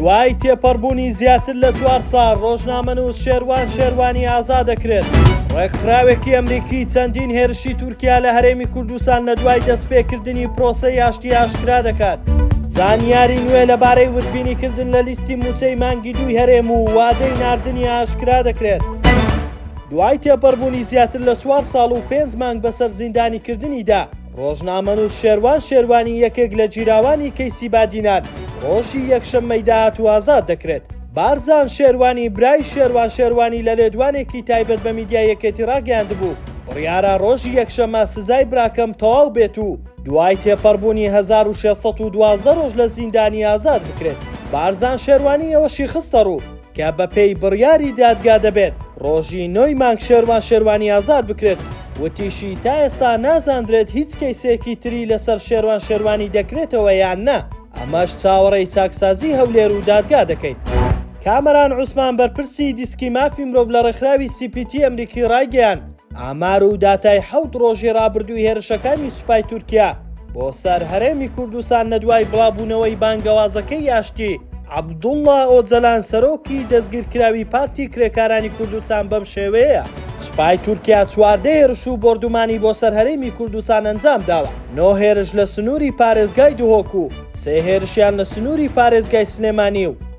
دوای تێپەڕبوونی زیاتر لە چوار ساڵ ڕۆژنامەنووس شێروان شێروانی ئازا دەکرێت ڕێکخراوێکی ئەمریکی چەندین هێرشی تورکیا لە هەرێمی کوردستان لە دوای دەستپێکردنی پرۆسەی یاشتی ئاشکرا دەکات زانیاری نوێ لەبارەی وردبینیکردن لە لیستی موچەی مانگی دوی هەرێم و وادەی نردنی ئاشکرا دەکرێت دوای تێپەڕبوونی زیاتر لە چوار ساڵ و پێنج مانگ بەسەر زیندانیکردنیدا ڕۆژنامەنووس شێروان شێروانی یەکێک لە گیراوانی کەیسی بادینان ڕۆژی یەکشەممەی داهاتوو ئازاد دەکرێت. بارزان شێروانی برای شێروان شێروانی لە لێدوانێکی تایبەت بە میدیای یەکێتی ڕاگەیاندبوو، بڕیارە ڕۆژی یەکشەممە سزای براکەم تەواو بێت و دوای تێپەڕبوونی هەزار و شێت سەد و دوازدە ڕۆژ لە زیندانی ئازاد بکرێت. بارزان شێروانی ئەوەشی خستەڕوو، کە بەپێی بڕیاری دادگا دەبێت ڕۆژی نۆی مانگ شێروان شێروانی ئازاد بکرێت، وتیشی تا ئێستا نازاندرێت هیچ کەیسێکی تری لەسەر شێروان شێروانی دەکرێتەوە یان نا، ئەمەش چاوەڕێی چاکسازی هەولێر و دادگا دەکەین. کامەران عوسمان بەرپرسی دیسکی مافی مرۆڤ لە ڕێکخراوی سی پی تی ئەمریکی ڕایگەیاند، ئامار و داتای حەوت ڕۆژی ڕابردووی هێرشەکانی سوپای تورکیا بۆ سەر هەرێمی کوردستان لە دوای بڵاوبوونەوەی بانگەوازەکەی ئاشتی، عەبدوڵڵا ئۆجەلان سەرۆکی دەستگیرکراوی پارتی کرێکارانی کوردستان بەم شێوەیەیە، سوپای تورکیا چواردە هێرش و بۆردومانی بۆ سەر هەرێمی کوردستان ئەنجام داوە، نۆ هێرش لە سنووری پارێزگای دهۆک و سێ هێرشیان لە سنووری پارێزگای سلێمانی و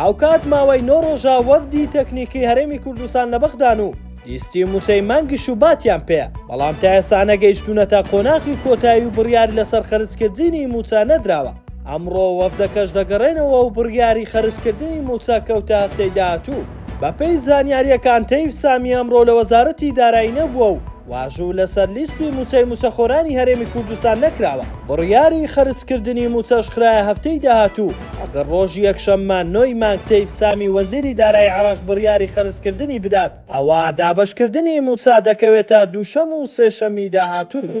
هاوکات ماوەی نۆ ڕۆژە وەفدی تەکنیکی هەرێمی کوردستان لە بەغدان و لیستی مووچەی مانگی شوباتیان پێیە، بەڵام تا ئێستا نەگەیشتوونەتە قۆناخی کۆتایی و بڕیار لەسەر خەرجکردنی مووچە نەدراوە، ئەمڕۆ وەفدەکەش دەگەڕێنەوە و بڕیاری خەرجکردنی مووچە کەوتە هەفتەی داهاتوو. بەپێی زانیارییەکان تەیف سامی ئەمڕۆ لە وەزارەتی دارایی نەبووە و واژوو لەسەر لیستی مووچەی مووچەخۆرانی هەرێمی کوردستان نەکراوە، بڕیاری خەرجکردنی مووچەش خرایە هەفتەی داهاتوو. ئەگەر ڕۆژی یەکشەممە نۆ ی مانگ تەیف سامی وەزیری دارایی عێراق بڕیاری خەرجکردنی بدات، ئەوا دابەشکردنی مووچە دەکەوێتە دووشەم و سێشەمی داهاتوو.